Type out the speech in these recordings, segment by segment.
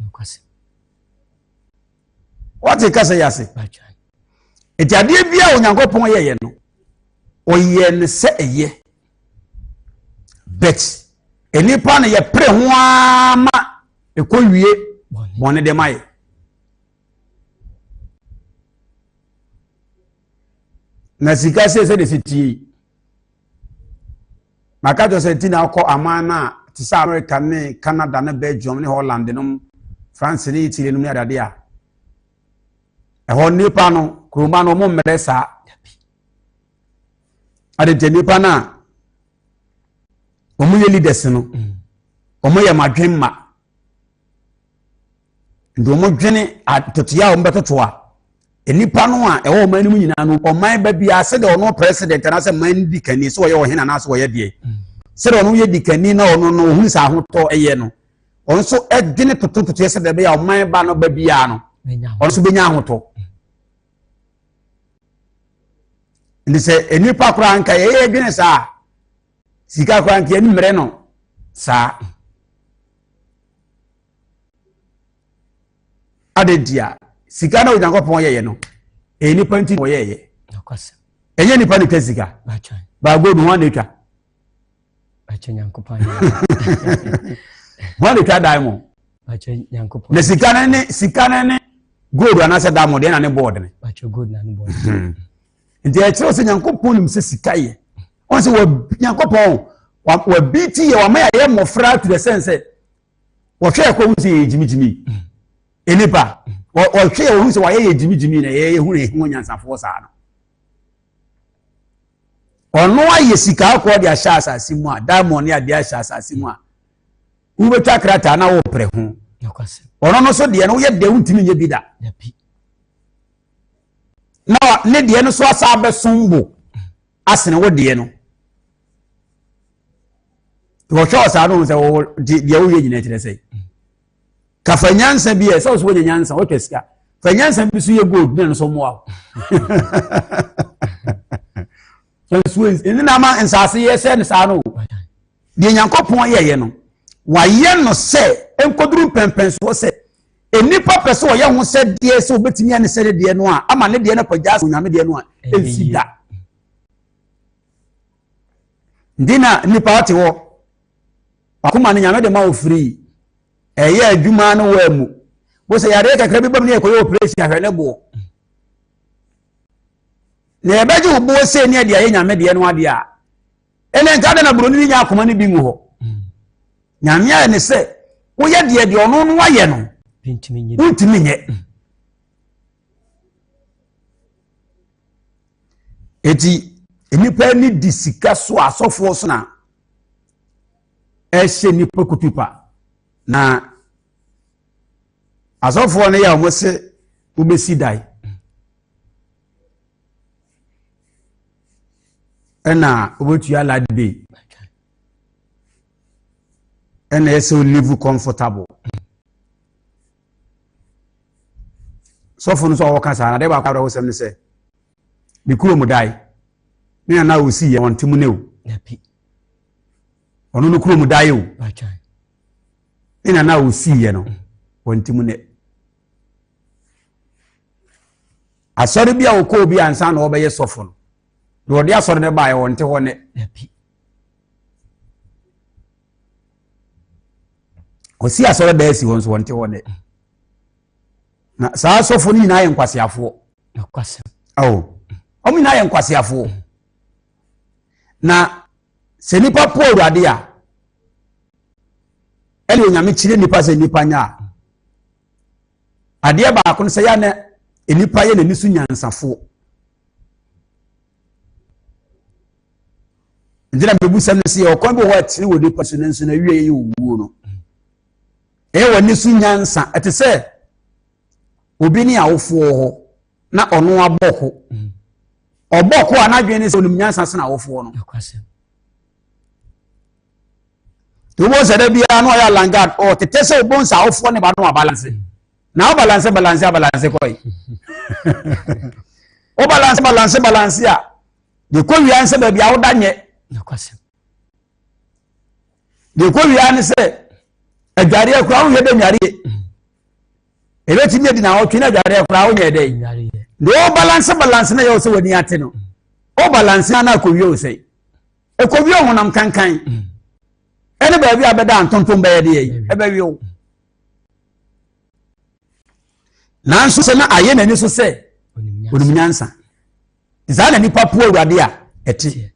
nokwasɛm wate kasa yi ase ɛti adeɛ bi a onyankopɔn yɛyɛ no ɔyɛ no sɛ ɛyɛ bet nnipa no yɛpere ho ara ma ɛkɔ wie bɔne de ma yɛ na sika sei sɛdeɛ ɛsɛ tie yi maka kyerɛ sɛ nti na akɔ aman no a te sɛ america ne canada ne belgium ne holland nom france ne italy nom ne adade a ɛhɔ nnipa no kuroma no ɔmo mmerɛ saa adetɛ nnipa no a ɔmo yɛ leaders no ɔmo yɛ madwen ma Nti wɔdwene atotoeɛ a wɔbɛtoto a nnipa no a ɛwɔ ɔman no mu nyinaa no ɔman ba biara sɛdeɛ ɔno president anaasɛ man no di kani sɛ ɔyɛ ɔhene anaasɛ ɔyɛ deɛ sɛdeɛ ɔno yɛ di kani na ɔno no ɔhunu sɛ ahotɔ ɛyɛ no ɔno nso ɛdwene totototoeɛ sɛdeɛ ɛbɛyɛ a ɔman ba no ba biara no ɔno nso bɛnya ahotɔ nti sɛ nnipa koraa nka yɛyɛ adwene saa sika koraa nka yɛne mmerɛ no saa Adɛn nti a sika na Onyankopɔn yɛyɛ no, ɛyɛ nipa nti na ɔyɛɛyɛ. Ɛnyɛ nipa na ɛtwa sika. Baago no wɔn na ɛtwa. Wɔn na ɛtwa dan mu. Na sika no ne sika no ne gold anaasɛ dan mu deɛ na ne board ne. Hmm. Nti ɛkyerɛ sɛ Nyankopɔn nim sɛ sika yɛ. Wɔn sɛ wɔ Nyankopɔn wɔ bi ti yɛ wɔn yɛ mmɔfra to the sense sɛ wɔhwɛ ɛkɔ hu sɛ yɛyɛ gyimigyimi nnipa wɔhwɛ yɛ wɔhu sɛ wɔayɛ yɛ gyimigyimi na yɛyɛ hu na yɛhu nyansafoɔ saa no ɔno ayɛ sika akɔ de ahyɛ asase mu a diamond ne adeɛ ahyɛ asase mu a wobɛtwa krataa na woprɛ ho ɔno no so deɛ no woyɛ deɛ wontumi nyɛ bi da na ne deɛ no so asa bɛsom bo asene wo deɛ no wɔhwɛ ɔsaa no sɛ wɔwɔ deɛ woyɛ nyina kyerɛ sɛ ka fa nyansa bi ɛ sɛ wo so wonya nyansa wotwa sika fa nyansa bi so yɛ gold ne no so mmoa wo nsuo ɛne na ama nsaase yɛ sɛ no saa no deɛ nyankopɔn yɛyɛ no wayɛ no sɛ nkɔduru mpɛmpɛnsoɔ sɛ nnipa pɛ sɛ ɔyɛ ho sɛ deɛ sɛ wobɛtumi ane sɛ ne deɛ no a ama ne deɛ no kɔgyaa sɛ onyame deɛ no a ɛnsi da Nti na nnipa ɔte hɔ. Wakoma no nyame de ma wo free. Ɛyɛ adwuma no wɔ mu. Wo sɛ yareɛ kakra bi bam ne yɛkɔyɛ operation ahwɛ ne boɔ. Na yɛbɛgye wo boɔ sei ne ɛde ayɛ nyame deɛ no adeɛ a. Ɛnɛ nka dɛ na buroni ne nya akoma no bi ngu hɔ. Nyame ayɛ ne sɛ woyɛ deɛ deɛ ɔno no wayɛ no. Wontumi nyɛ. Enti nnipa ani di sika so a asɔfoɔ so na ɛhyɛ nnipa kutupa. Na asɔfoɔ no yɛ a wɔse wobɛsi dan. Ɛna wobɛtua light bill. Ɛna ɛsɛ o live comfortable. sɔfo no nso a wɔka saa na adeɛ baako a wɔsɛm no sɛ ne kuro mu dae ne nana a ɔsi yɛ wɔn ntemu ne o ɔno no kuro mu dae o ne nana a ɔsi yɛ no wɔn ntemu ne asɔre bi a wɔkɔɔ bi ansa na wɔbɛyɛ sɔfo no na wɔde asɔre no baeɛ wɔn nte hɔ ne Wɔsi asɔredan asi hɔ nso wɔnte hɔ nnɛ. Na saa asɔfo no nyinaa yɛ nkwaseafoɔ. Awo. Wɔn nyinaa yɛ nkwaseafoɔ. Mm. Na sɛ nipa po awurade a, ɛne onyame kyerɛ nipa sɛ nipa nya a, adeɛ baako no sɛ yɛ na nipa yɛ n'ani so nyansafoɔ. nti na mbɛbusam no sɛ yɛwɔ kwan bi wɔ hɔ a tiri wɔ nipa so nanso na wie yɛ owuo no ɛyɛ wɔ ani so nyansa ɛte sɛ obi ne awofoɔ hɔ na ɔno abɔ ko ɔbɔ ko a n'adwene ne sɛ onim nyansa sena awofoɔ no wobɔ sɛ da biara na ɔyɛ alangard ɔtete sɛ wobɔ nsa awofoɔ ne ba no abalanse na o balance balance a balance kɔ yi o balance balance balance a de kɔ wia nsɛ baabi a woda nyɛ de kɔ wia ne sɛ adwareɛ koraa wohwɛ dɛ nwareɛ ɛbɛtumi adi na ɔtwe no adwareɛ koraa wonyɛ dɛ de o balance balance na yɛ wo sɛ w'ani ate no o balance na akɔwie wo sɛ ɛkɔwie honam kankan ɛne baabi a bɛda ntontom bɛyɛ deɛ yi ɛbɛwie wo nanso sɛ na ayɛ n'ani so sɛ onim nyansa saa na nipa po awurade a ɛte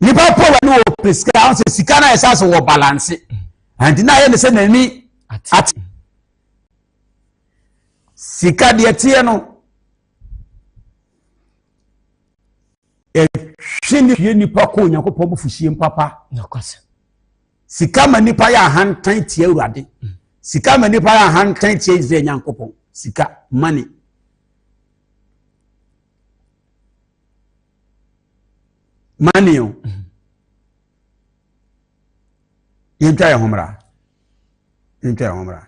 nipa po awurade wɔ pɛ sika ahụ sɛ sika no a ɛsɛ sɛ wɔ balanse nti na ayɛ ne sɛ n'ani ate sika deɛ teɛ no ɛhwe ne hwie nipa kɔ onyankopɔn bufuhyeɛ mu papa sika ma nipa yɛ ahantan tia awurade mm. sika ma nipa yɛ ahantan tia israel nyankopɔn sika money money o mm. yɛntwa yɛ ho mmra yɛntwa yɛ ho mmra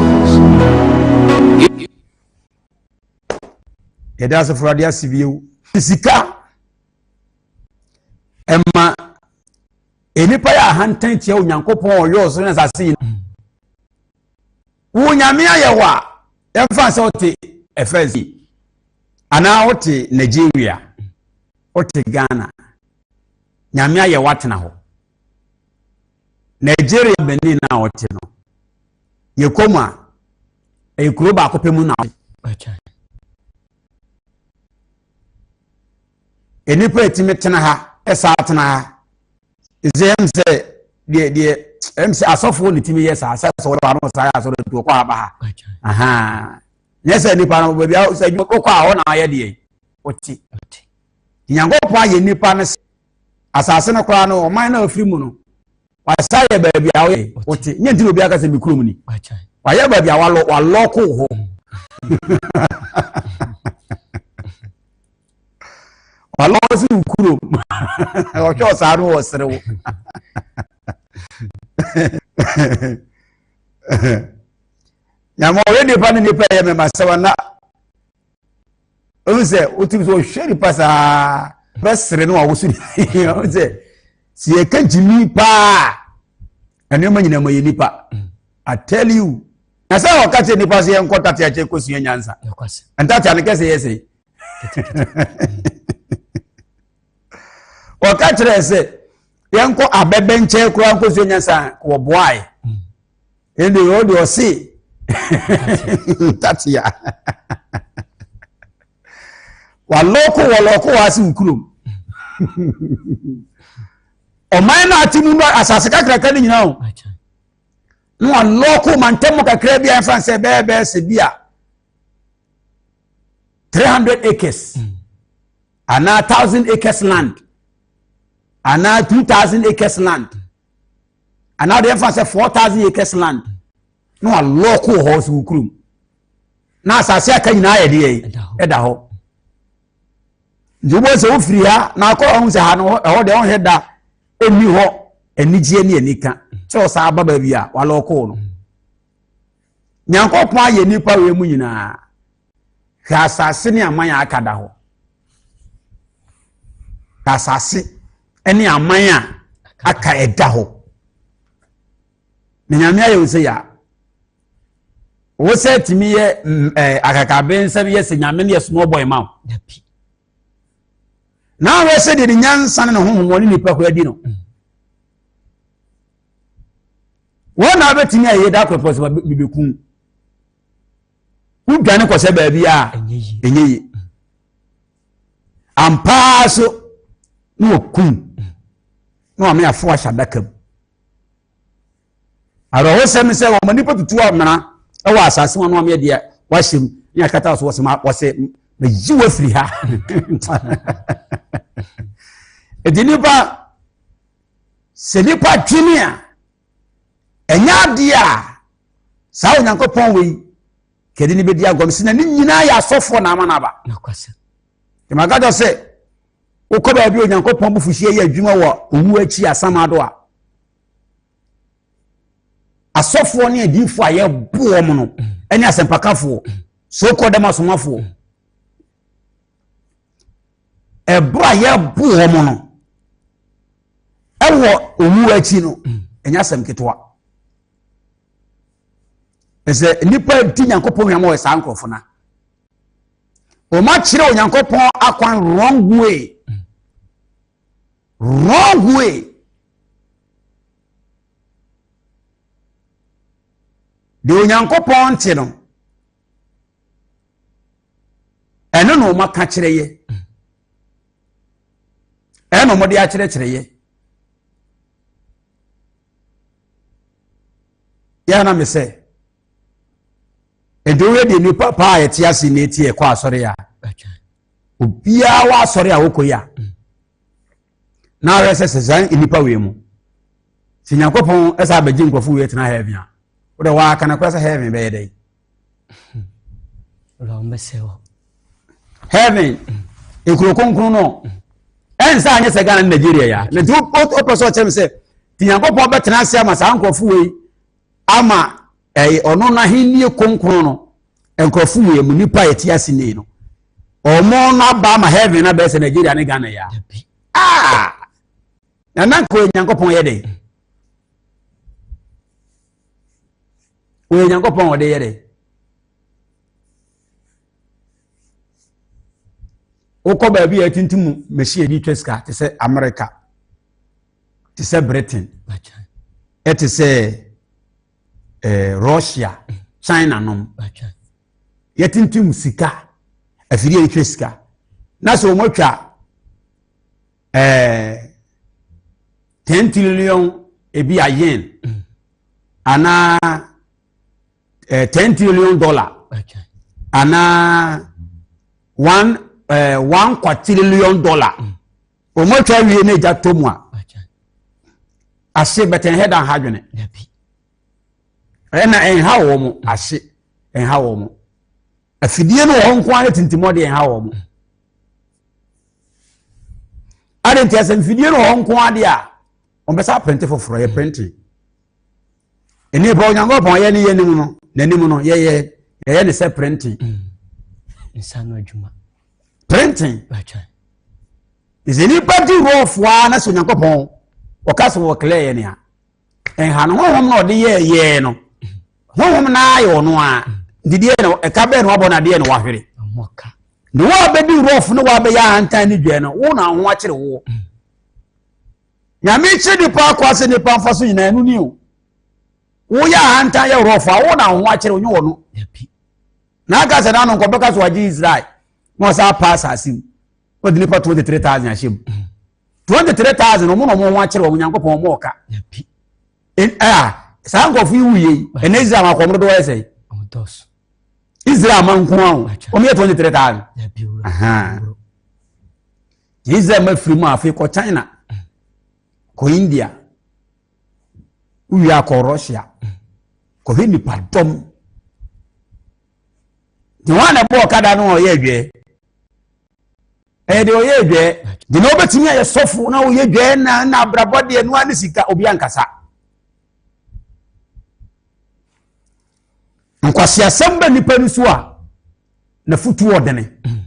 yɛde asefo ade ase bio sika ɛma nnipa yɛ ahantan tia onyankopɔn ɔyɛ ɔsoro ne asase yi wo nyame ayɛ hɔ a yɛmfa sɛ wote ɛfrɛ si anaa wote nigeria wote ghana nyame ayɛ woatena hɔ Nigeria Benin no a ɔte no, yɛkɔ mu a, ɛyɛ kuro baako pɛ mu na ɔte. Nnipa ɛtumi tena ha, ɛsa tena ha. Ɛsɛ ɛm sɛ deɛ deɛ ɛm sɛ asɔfoɔ ne tumi yɛ saa sɛ sɛ wɔde wɔn saa yɛ asɔre nti wɔkɔ ha ba ha. Ahaa. Nyɛ sɛ nipa no baabi a sɛ adwuma wokɔ a hɔ na ayɛ deɛ ɔte. Nyankopɔn ayɛ nipa no sɛ asase no koraa no ɔman no a ɔfiri mu no wasa yɛ baabi a ɔyɛ ɔte nyɛ nti na obi aka sɛ me kurom ni wayɛ baabi a walɔ walɔko hɔ walɔ si wo kurom ɔhwɛ ɔsaa no wɔ serew nyama ɔyɛ nipa ne nipa yɛ mɛma sɛ wana ɔno sɛ wotim sɛ ɔhwɛ nipa saa bɛsere no a woso ɔno sɛ sɛ yɛka gyimi paa ɛnoɔma nyina ma yɛ nipa i tell you na sɛ ɔka kyerɛ nipa sɛ yɛnkɔ tate akyɛ kɔsua nyansa ntate ano kɛsɛ yɛ sɛ wɔka kyerɛɛ sɛ yɛnkɔ abɛbɛ nkyɛn koraa nkɔsua nyansa wɔboae ɛnde ɔwɔ deɛ ɔse tatea walɔko wɔlɔko waase wo kurom ɔman no ate mu no asase kakraka no nyina o na walɔko mantam kakra bi a ɛmfa sɛ bɛɛbɛɛ sɛ bi a 300 acres mm. anaa thousand acres land anaa two thousand acres land anaa deɛ ɛfa sɛ four thousand acres land na walɔɔko wɔ hɔ so wɔ kurom na asase aka nyinaa yɛ deɛ ɛda hɔ nti wobɔ sɛ wofiri ha na akɔ ɔho sɛ ha no ɛhɔ deɛ ɔhwɛ da ɛni hɔ anigyeɛ ne anika sɛ ɔsaa ba baabi a walɔɔko no Nyankopɔn ayɛ nnipa wei mu nyinaa. Hwɛ asase ne aman a aka da hɔ. Asase ne aman a aka ɛda hɔ. Na Nyame ayɛ wo sɛ yɛ a. Wo sɛ tumi yɛ mm, eh, akakabensɛm yɛ sɛ Nyame ne yɛ small boy ma wo. N'ahwɛ sɛ deɛ ne nyansa ne ne honhom wɔ ne nipa kura di no. Wɔn na abɛtumi ayɛ da korɔ pɔ sɛ bɛbɛkum. Wodwane kɔ sɛ baabi a ɛnyɛ yie. Ampaa so na wɔkum na wɔn ameafo ahyɛ adaka mu. Awerɛhosɛm ne sɛ wɔma nnipa tutu amena wɔ asase mu anoa meɛ deɛ wahyɛ mu ne akata so wɔsɛ wɔsɛ mayi wo afiri ha ɛti nnipa sɛ nnipa dwene a ɛnyɛ adeɛ a saa onyankopɔn wei kɛde ne bɛdi agɔm sɛ na ne nyinaa yɛ asɔfoɔ na ama no aba ɛmagada sɛ Wokɔ baabi a Onyankopɔn abufuhyeɛ yɛ adwuma wɔ owuo akyi asamado a, asɔfoɔ ne adiifoɔ a yɛbo wɔn no ne asɛmpakafoɔ so kɔ dɛm asomafoɔ ɛberɛ a yɛbo wɔn no ɛwɔ owuo akyi no ɛnyɛ asɛm ketewa ɛsɛ nnipa di nyankopɔn hwɛ ma wɔ saa nkurɔfo no wɔn akyerɛ onyankopɔn akwan wrong way wrong way deɛ onyankopɔn nte no ɛno na wɔn aka kyerɛ yɛ ɛna wɔn de akyerɛkyerɛ yɛ yɛn na mi sɛ. Ɛde woyɛ deɛ nipa paa a ɛte ase na ɛti ɛkɔ asɔre a. Obiara wɔ asɔre a wokɔ yi a. Mm. Na awɛ sɛ sɛ saa nnipa wei mu. Sɛ Nyankopɔn ɛsɛ abɛgye nkurɔfo wei tena heaven a. Wode waaka no kora sɛ heaven bɛyɛ dɛn. Heaven, ekuro kronkron no. Mm. Ɛnsɛ anyɛ sɛ Ghana ne Nigeria ya. Na nti wopɛ sɛ ɔkyerɛ me sɛ, nti Nyankopɔn bɛtena ase ama saa nkurɔfo wei ama ɛyɛ ɔno n'ahenni kronkron no nkurɔfo yɛ mu nipa a ɛte ase ni no wɔn no aba ama heaven abɛɛ sɛ nigeria ne ghana yɛ a na na nka onyankopɔn yɛ dɛ onyankopɔn ɔde yɛ dɛ wokɔ baabi a ɛtintim machine bi twa sika te sɛ america te sɛ britain ɛte sɛ eh, russia china nom yɛtintim sika afidie yɛtwa sika na sɛ wɔn atwa eh, ten trillion ebi a yen mm. anaa eh, ten trillion dollar anaa one eh, one quadrillion dollar. Mm. Wɔn atwa awie na egya tɔ mu a. Ase bɛtɛn hɛ dan ha dwene. Ɛna ɛnha wɔn ase ɛnha wɔn. Afidie no wɔ hɔ nko ara tintim ɔde ɛnha wɔn. Mm. Ade nti asɛmfidie no wɔ hɔ nko ara de a wɔn bɛsa apɛnte foforɔ yɛ pɛnte. nnipa onyankopɔn yɛ ne yɛnim no n'anim no yɛyɛ yɛyɛ ne sɛ printing mm. nsa no adwuma printing ɛsɛ nnipa di rɔfoa na sɛ onyankopɔn ɔka sɛ wɔklɛ yɛ nea ɛnha no honhom na ɔde yɛ yɛɛ no honhom na ayɛ ɔno a didiɛ na ɛka bɛɛ na wabɔ no adeɛ na wahwere na wɔabɛdi rɔfo na wɔabɛyɛ ahantan ne dwa no wo na ho akyere woɔ mm. Nyame kyerɛ nipa akwa sɛ nipa mfa so nyinaa ɛno ni o. Woyɛ ahantan yɛ worɔfo a wo na wo ho akyerɛ onye wɔ no. Na aka sɛ n'ano nkɔ bɛka so wagye Israel na ɔsɛ apa asase mu. Wɔde nipa 23,000 ahyɛ mu. 23,000 wɔn na wɔn ho akyerɛ wɔn Nyankopɔn wɔn ɔka. Ɛa saa nkurɔfo yi wuye yi ɛnna Israel akɔ wɔn dodo wɔyɛ sɛ. Israel ma nko ahụ. Wɔn yɛ 23,000. Deɛ Israel ma firi mu a afei kɔ China, kɔ India, wowie a kɔ Russia, kɔhwɛ nipadɔm. Deɛ wɔn a na ɛbɔ ɔkada no ɔyɛ adwɛɛ. Ɛyɛ deɛ ɔyɛ adwɛɛ. Deɛ na wobɛtumi ayɛ sɔfo na woyɛ adwɛɛ na na abrabɔ deɛ noa ne sika obi ankasa. Nkwasiasɛm bɛ nipa no so a, na futuo ɔdene. Mm.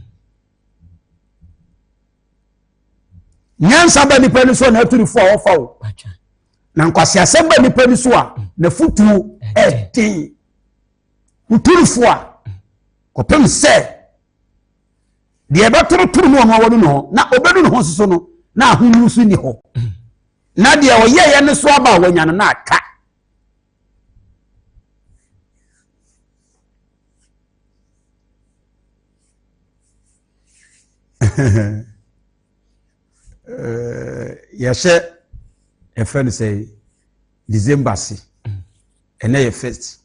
nyansa ba nipa ni so a n'aturifo a wɔfa wo na nkwaseasɛm ba nipa ni so a n'afutuo ɛden nturifo a kɔpem sɛ deɛ ɛbɛtorotoro no ɔno awɔ no ne hɔ na ɔbɛdu ne ho soso no na ahonu so ni hɔ na deɛ ɔyɛeɛ no so aba a wɔanya no na aka yɛhyɛ ɛfɛ no sɛ december se ɛnɛ yɛ first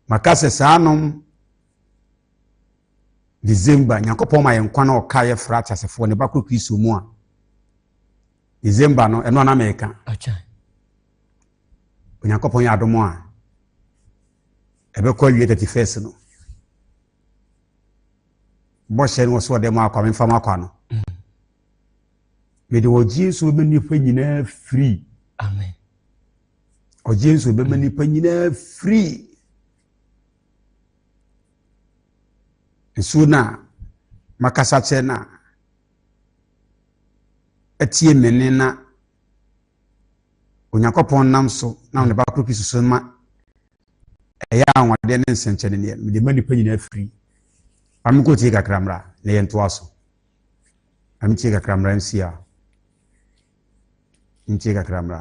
maka sɛ saa nom december nyankopɔn ma yɛn nkwa na ɔka yɛ fra ateasefoɔ ne ba koro kristo mu a december no ɛno ana meka onyankopɔn yɛ adom a ɛbɛkɔ awie 31 no bɔhyɛ no wɔ so ɔdɛ mu akwa memfa mu akwa no mm. mede ɔgye nso bɛma nnipa nyinaa firi ɔgye nso bɛma nnipa nyinaa firi nsuo no a makasa kyerɛ no a atie me nne na Onyankopɔn nam so nam ne ba koro Kristo so ma ɛyɛ anwadeɛ ne nsɛnkyɛne neɛ mede ma nnipa nyinaa firi amekɔ tie kakra mmra na yɛ ntoa so ametie kakra mmra nsia ntie kakra mmra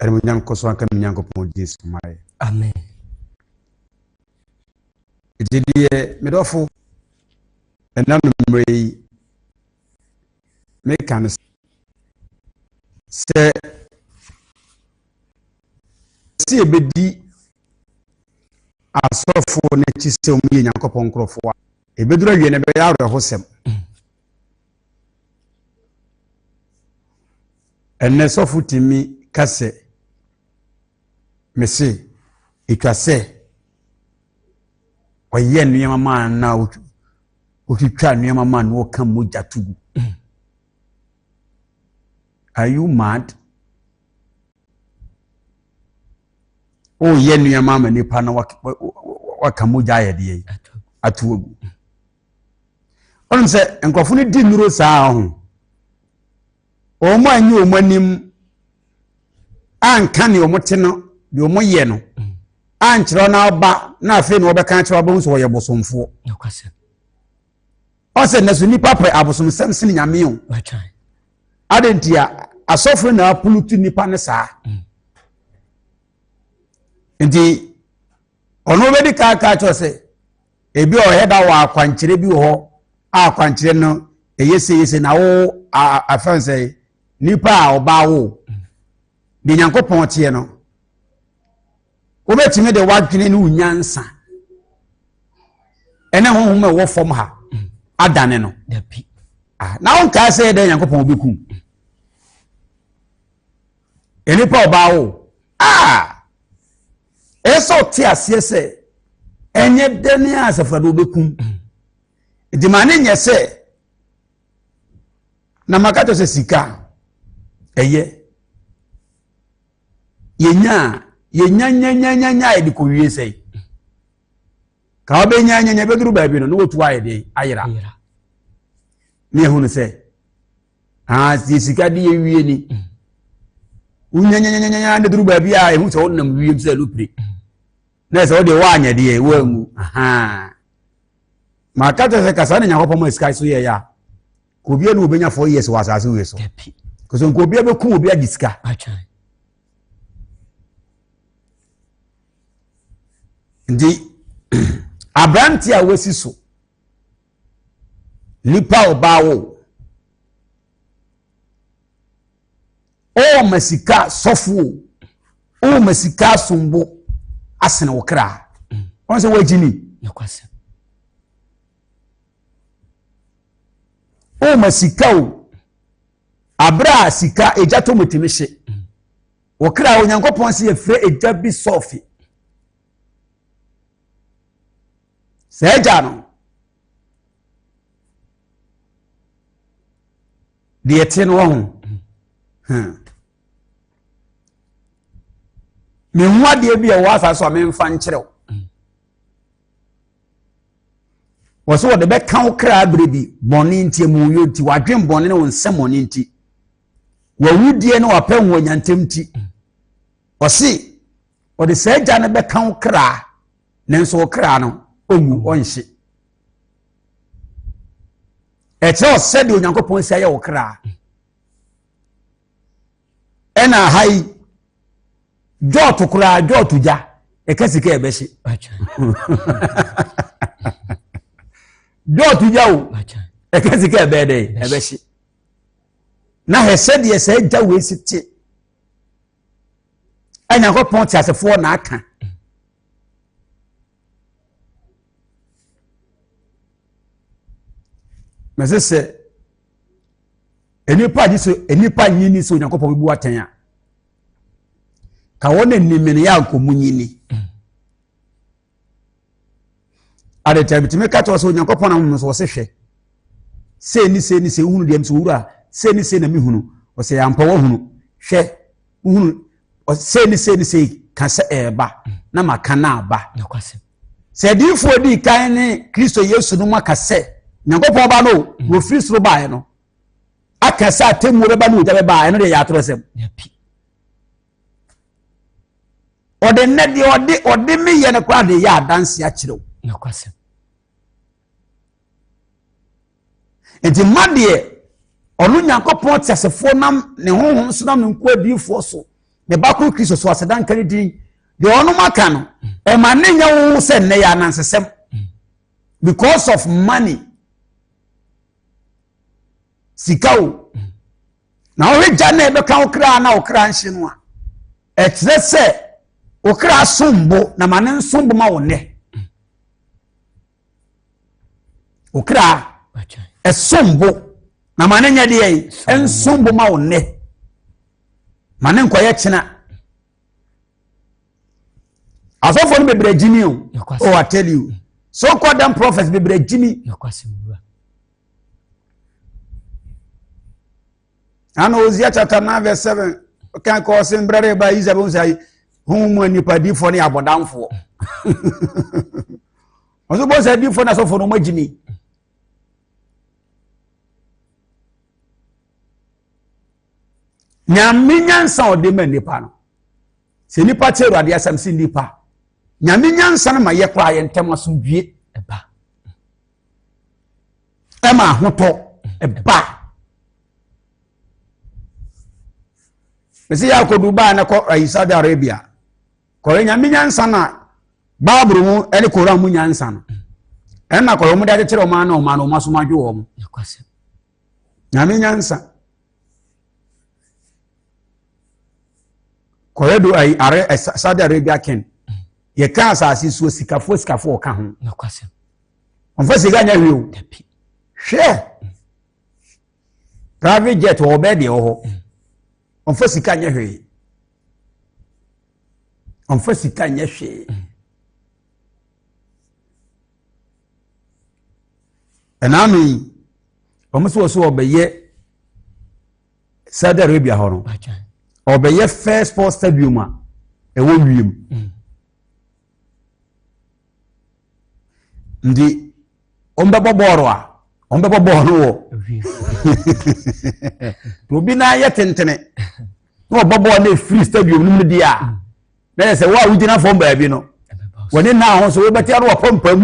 Animuonyam nkɔ so nka me Nyankopɔn din so ma yɛ. Amen. Enti deɛ me dɔfo ɛnam mmerɛ yi meka no sɛ sɛ yɛbɛdi asɔfoɔ no akyi sɛ wɔyɛ Nyankopɔn nkurɔfoɔ a ɛbɛduru awie no ɛbɛyɛ awerɛhosɛm. Ɛnnɛ sɔfo tumi ka sɛ, Mise, etwa sɛ ɔyɛ nneɛma ma na otwitwa nneɛma ma na ɔka mogya to gu. Mm. Are you mad? Woyɛ nneɛma ma nipa na waka mogya ayɛ deɛ yi, ato agu. Wonim sɛ nkurɔfo no di nnuro saa ho. Wɔn a nye wɔn anim anka ne wɔn te no deɛ wɔn yɛ no ankyerɛ na aba na afei na wɔbɛka akyerɛ wɔn sɛ wɔyɛ bosomfoɔ. Ɔsɛ na so nipa pɛ abosomsɛm sini nyame o. Adan ti a asɔfo na apulu tu nipa ne saa. Mm. Nti ɔno bɛdi kaa kaa kyerɛ sɛ. Ebi a ɔyɛ da wɔ akwankyerɛ bi wɔ hɔ a akwankyerɛ no ɛyɛ seyese na wo afɛn sɛ nipa a ɔbaa wo de nyankopɔn teɛ no wobɛtumi de wadwene ne wo nyansa ɛne honhom a ɛwɔ fam ha adane no ah, na wonkae sɛ yɛ dɛ nyankopɔn wobɛku nnipa ɔbaa wo a ah! Ɛyɛ sɛ ɔte aseɛ sɛ ɛnyɛ dɛ ne Asafo Awurade ɔbɛkum. Nti ma ne nyɛ sɛ na maka kyerɛ sɛ sika ɛyɛ yɛnya a yɛnyanyanyanya yɛde kɔwie sɛe ka wobɛnyanyanya bɛduru baabi no na wɔtu ayɛ den ayera ne ɛhu no sɛ aa deɛ sika de awie ni wonyanyanyanya de duru baabi a ɛhu sɛ wonam wiem sɛ lopire na ɛsɛ wodeɛ woanyɛ deɛ woangu maka kyɛ sɛ kasa ne nyankopɔn ma sika so yɛyɛ a kobia ne wɔbɛnya four years wɔ asase wei so kɔsɛ nkobia bɛku obi agye sika nti aberante a wasi so Nnipa a ɔbaa wo. Ɔma sika sɔfo o. Ɔma sika asombo asene wo kra. Wɔn sɛ wɔagyi ni. Ɔma sika o. Abere a sika egya tɔ mu tumi hye. Wɔ kra Onyankopɔn se yɛfrɛ egya bi sɔfe. saa agya no deɛ ɛte no wɔ ho hmm. mehu adeɛ bi a ɛwɔ asa so a memfa nkyerɛw wɔ so wɔde bɛka wo kra berɛ bi bɔne nti mu yɛ nti wadwen bɔne ne wo nsɛm bɔne nti wawudie ne wapɛ ho anyantam nti ɔse ɔde saa gya no bɛka wo kra nanso wo kra no ɔnwu ɔnhye ɛkyerɛ wo sɛdeɛ onyankopɔn si ayɛ wo kra ɛna ha yi dwɔɔto koraa dwɔɔto gya ɛka sika ɛbɛhye dɔɔto gya o ɛka sika ɛbɛɛ dɛ ɛbɛhye na hɛ sɛdeɛ sɛ gya wei si te a nyankopɔn teasefoɔ na aka mɛse sɛ nnipa agye so nnipa nyi ni sɛ onyankopɔn bɛbu atɛn a ka wɔn anim no yɛ ankɔmu nyi ni Ade nti a bitumi ka kyerɛ sɛ Onyankopɔn na wɔn so wɔsɛ hwɛ. Sei ne sei ne sei wohunu deɛ mso wura sei ne sei na mehunu. Ɔsɛ yɛ ampa wɔhunu hwɛ wohunu sei ne sei ne sei ka sɛ ɛɛba na maka na aba. Sɛ adiifoɔ di kan ne Kristo Yesu no mu aka sɛ Nyankopɔn ba no mm. wɔfiri soro baeɛ no aka sɛ atemmuo bɛba ne ogya bɛba ɛno deɛ yɛ atorɔsɛm. ɔde nnɛ deɛ ɔde ɔde me yɛ no koraa de yɛ adanse akyerɛ wo nokwasɛm nti ma deɛ ɔno nyankopɔn teasefoɔ nam ne honhom so nam ne nko adiyifoɔ so ne ba koro kristo so aseda nka ne din deɛ ɔnom aka no ɛma ne nyɛ wo sɛ nnɛ yɛ anansesɛm because of money sika o na wohwɛ gya na ɛbɛka wo kra na wo kra nhye no a ɛkyerɛ sɛ wo kra som bo na ma ne nsom bo ma wo nnɛ wo kra ɛsom bo na ma ne nyɛ deɛ yi ɛnsom bo ma wo nnɛ ma ne nkɔyɛ kyena asɔfoɔ no bebree gyimi o oh I tell you so called them prophets bebree gyimi ana Hosea chapter nine verse seven kan kɔ ɔsɛ mbrɛ dɛ ɛbaa Israel bɛn sɛ ayi hun mu anipadifoɔ ne abɔdanfoɔ ɔsɛ bɔ sɛ adifoɔ na asɔfoɔ no ɔmo agyi mi. nyame nyansa a ɔde ma nipa no sɛ nipa te awurade asɛm si nipa nyame nyansa no ma yɛ koraa yɛ ntɛm asomdwie ɛba ɛma ahotɔ ɛba mesi yɛ akɔdu baa na kɔ ayi Saudi Arabia kɔrɔ nyame nyansa na baaburo mu ɛne koran mu nyansa no ɛna kɔrɔ wɔn de akyekyere wɔn ano wɔn ano wɔn aso wɔn adwo wɔn nyame nyansa kɔrɔ do ayi are Saudi Arabia ken yɛ kaa asase so sikafoɔ sikafoɔ ɔka ho. ɔmfa sika nyɛ hwee o hwɛ private jet wɔ ɔbɛɛ deɛ wɔ hɔ ɔmfa sika nyɛ hwee ɔmfa sika nyɛ hwee ɛnaano yi wɔn sɛ wɔsɛ wɔbɛyɛ Saudi Arabia hɔ no ɔbɛyɛ first four stadium a ɛwɔ wiem. Mm. nti wɔbɛbɔ bɔɔl a wɔbɛbɔ bɔɔl no wɔ obi nan yɛ tentene na wɔbɔ bɔɔl no efiri stadium no mu di a na yɛ sɛ wo a wogyina fam baabi no wɔne nan ho so wobɛte ano wɔ pampam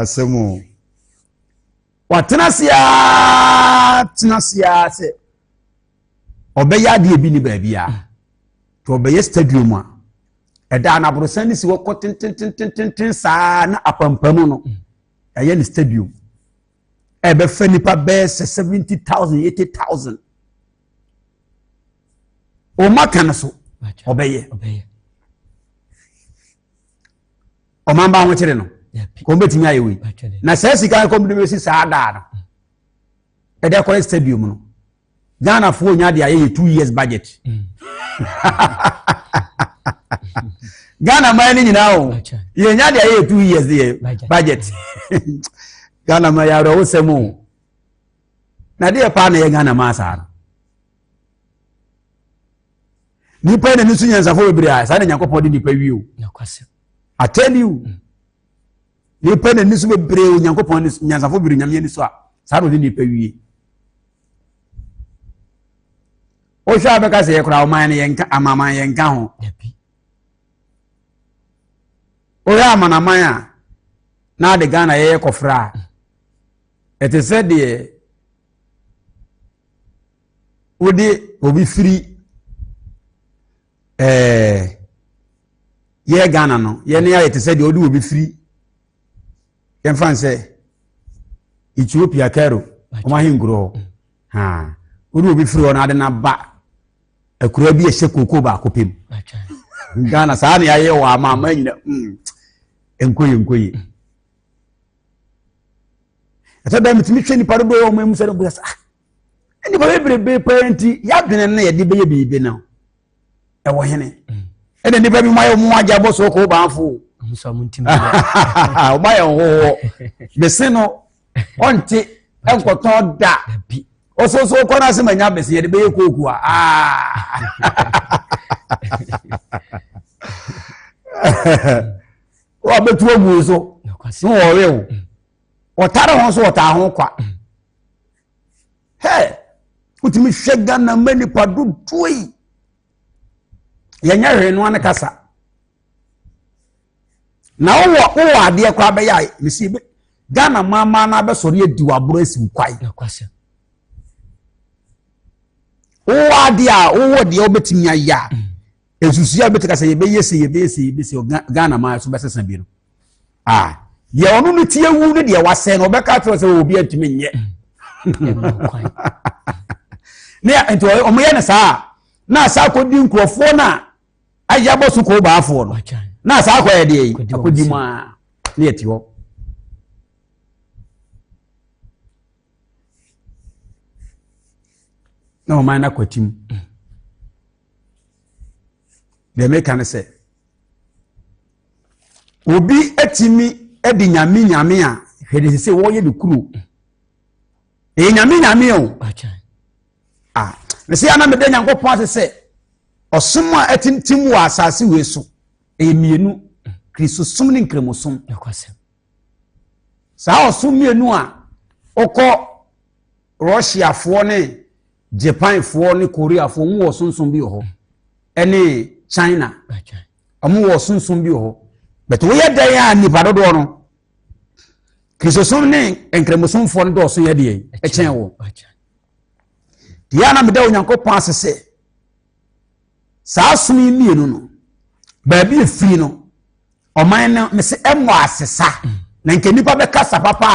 asɛm o Watena ase ara tena ase ara sɛ ɔbɛyɛ adeɛ bi ne baabi a nti ɔbɛyɛ stadium a ɛda anaborosan ne si hɔ kɔ tententententen saa na apampam no ɛyɛ ne stadium ɛbɛfɛ nipa bɛyɛ sɛ seventy thousand eighty thousand wɔn aka no so ɔbɛyɛ. ɔman ba ahokyere no kɔn bɛtumi ayɛ wei na saa sika no kɔm de bɛsi saa daa no ɛde akɔyɛ stadium no ghanafoɔ nya de ayɛ yɛ two years budget mm. ghana man no nyinaa o yɛnya de ayɛ yɛ two years yɛ budget ghana man yɛ awerɛwosɛm o na deɛ paa na yɛ ghana man saa no nipa na ne so nyansafo bebree a saa na nyankopɔn de nipa wie o i tell you mm. nipa na ne so bebree o nyankopɔn nyansafo bebree nyame ani so a saa na ɔde nipa wie wohwɛ a bɛka sɛ yɛkora ɔman no yɛnka amaman yɛnka ho wohwɛ amanaman a na ade ghana yɛyɛ kɔfra a ɛte sɛ deɛ wode obi firi ɛɛ yɛ ghana no yɛne ayɛ te sɛ deɛ wode obi firi yɛmfa n sɛ ethiopia cairo wɔn ahenkuro hɔ mm. ha wode obi firi hɔ no ade no aba akura bi ɛhyɛ kooko baako pɛ mu ghana saa ne ayɛ wɔ ama ama nyina mm. nkoye nkoye mm. ɛsɛ dɛ metumi hwɛ nipa dodoɔ yɛ ɔma mu sɛ no boyɛ sɛ ah nnipa bebrebe paa nti yɛadwene no na yɛde bɛyɛ biribi no ɛwɔ hene mm. ɛna nnipa bi ma yɛ ɔmo agya bɔ so kɔ baafo ɔma yɛ nhohoɔ bese no ɔnte nkɔtɔn da ɔsoso kɔ no ase ma nya bese yɛde bɛyɛ kooku a wɔabɛtu agu so na wɔwe wo mm. wɔtare ho nso wɔtaa ho kwa hɛ wotumi hwɛ ghana ma nipa dodoɔ yi yɛnyɛ hwee noa ne kasa na wowɔ wowɔ adeɛ koraa bɛyɛ a mesi bi ghana maamaa no abɛsɔre adi waboro asi kwae wowɔ adeɛ a wowɔ deɛ wobɛtumi ayɛ a mm. Nsusuiɛ a bɛteka sɛ yɛbɛyɛ sei yɛbɛyɛ sei yɛbɛyɛ sei ɔga Ghana man so bɛsesa bi no ah deɛ ɔno no ti awu ne deɛ wasɛn no ɔbɛka akyerɛ sɛ obi antumi nyɛ ne nti ɔmo yɛ no saa na asa akɔdi nkurɔfoɔ no a ayɛ abɔ so kɔɔ baafoɔ no na asa akɔyɛ deɛ yi akɔdi mu a ne yɛte hɔ na ɔman no akwatim mm. Deɛ meka ne sɛ, obi atumi de nyame nyame a hwɛ de sɛ wɔyɛ ne kuro. Ɛyɛ nyame nyame o. Ah, mese ana meda Nyankopɔn ase sɛ ɔsom a atintim wɔ asase wei so ɛyɛ mmienu kristosom ne nkramosom saa ɔsom mmienu a wokɔ russiafoɔ ne Japanfoɔ ne Koreafoɔ wɔn wɔ sonsom bi wɔ hɔ ɛne China wɔn wɔ sonsom bi wɔ hɔ bɛtɛ wɔyɛ dan a nipa dodoɔ no kristosom ne nkramosofoɔ no dɔɔso yɛ deɛ ɛkyɛn wɔ deɛ anam da Onyankopɔn ase sɛ saa som yi mmienu no baabi efiri no ɔman no mesi ɛmɔ asesa mm. na nka nipa bɛkasa papa.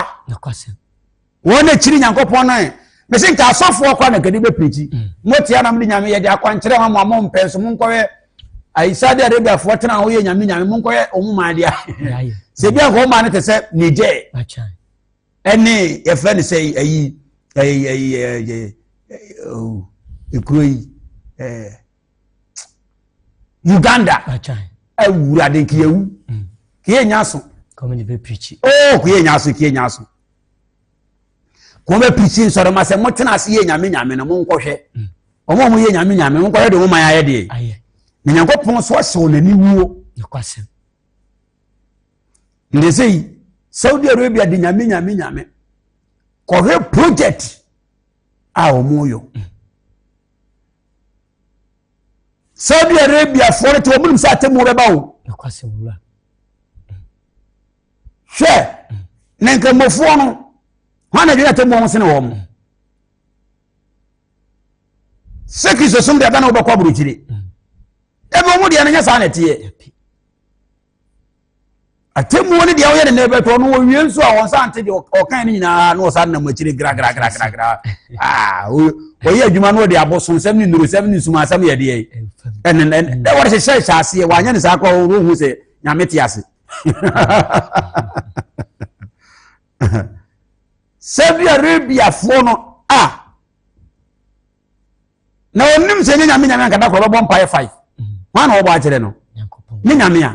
wɔn na kyiri nyankopɔn no ɛ mese nka asɔfoɔ kɔ na kadi bɛpirikyi mm. mote anam de nyame yɛde akwankyerɛ ma mo a mompɛ nso monkɔyɛ ayisa de arabiafoɔ tena ho yɛ nyame nyame monkɔyɛ ɔmo maa deɛ sɛ bi anka ɔmaa no te sɛ niger ɛne yɛfrɛ no sɛ ayi ɛkuro yi uganda awurade nka yɛwu mm. ka yɛnya aso oh, ka yɛnya aso ka yɛnya aso ka wɔbɛpirikyi nsɔrema sɛ motena ase yɛ nyame nyame no monkɔhwɛ mm. ɔmo ɔmo yɛ nyame nyame monkɔhwɛ de moman ayɛ deɛ na nyankopɔn so ɔhyɛ wɔn ani wuo nde sɛ yi saudi arabia de nyame nyame nyame kɔhwɛ project a wɔn yɔ mm. Saudi Arabiafoɔ no te wɔn nim sɛ atemmuo bɛba o. Hwɛ na nkramofoɔ no wɔn na dwene atemmuo ho sene wɔn. Sɛ kristosom deɛ bɛn na wobɛkɔ aburokyire. Ebi wɔn deɛ no nyɛ saa na ɛteɛ. atemmuo no deɛ woyɛ ne nɛbɛtɔ ɔno wɔwie nso a wɔn sa nte deɛ ɔkan no nyinaa na wɔsa nam akyire gragragragragra ah, wɔyɛ adwuma no wɔde abosonsɛm ne nnurusɛm ne nsumansɛm yɛ deɛ ɛne ɛne wɔde hyehyɛ hyɛ aseɛ wɔanyɛ ne saa koraa wɔhu sɛ nyame te ase saudi arabiafoɔ no a na ɔnim sɛ ɛnyɛ nyame nyame ankada korɔ ɔbɛbɔ mpaeɛ five hwan na wɔbɔ akyerɛ no ne nyame a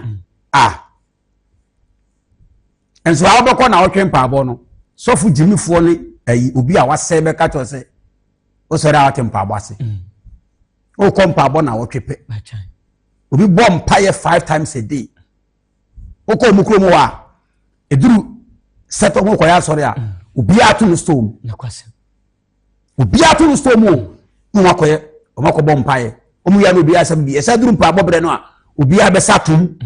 a nso a wobɛkɔ na wotwe mpaabɔ no sɔfo gyimifoɔ ne ayi obi a wasɛe bɛka kyerɛ sɛ wosɔre a wote mpaabɔ ase wokɔ mpaabɔ na wotwe pɛ obi bɔ mpaeɛ five times a day wokɔ ɔmu kurom hɔ a ɛduru sɛtɔ ho kɔyɛ asɔre a obiara to no stone obiara to no store mu o na wɔn akɔyɛ wɔn akɔbɔ mpaeɛ wɔn yɛ no obiara asɛm bi ɛsɛ duru mpaebɔ brɛ no a obiara bɛsa atom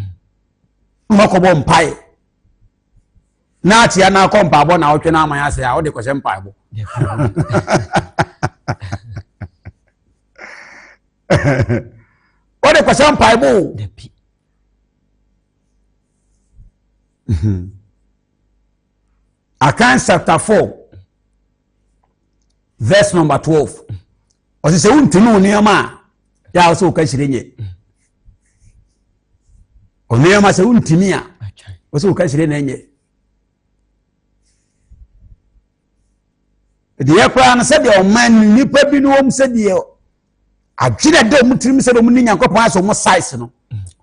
na wɔn akɔbɔ mpaeɛ na akyia na akɔ mpaebɔ na ɔtwe na aman ase a ɔde kɔhyɛ mpaebɔ ɔde kɔhyɛ mpaebɔ o. Akan chapter four verse number twelve ɔsi sɛ wontumi wo nneɛma a yɛ a wɔsɛ wɔka hyire nyɛ nneɛma sɛ wontumi a wɔsɛ wɔka hyire na nyɛ deɛ koraa no sɛdeɛ ɔma nnipa bi no wɔm sɛdeɛ adwene dɛ ɔmo tirim sɛ ɔmo ne nyankopɔn asɛ ɔmo size no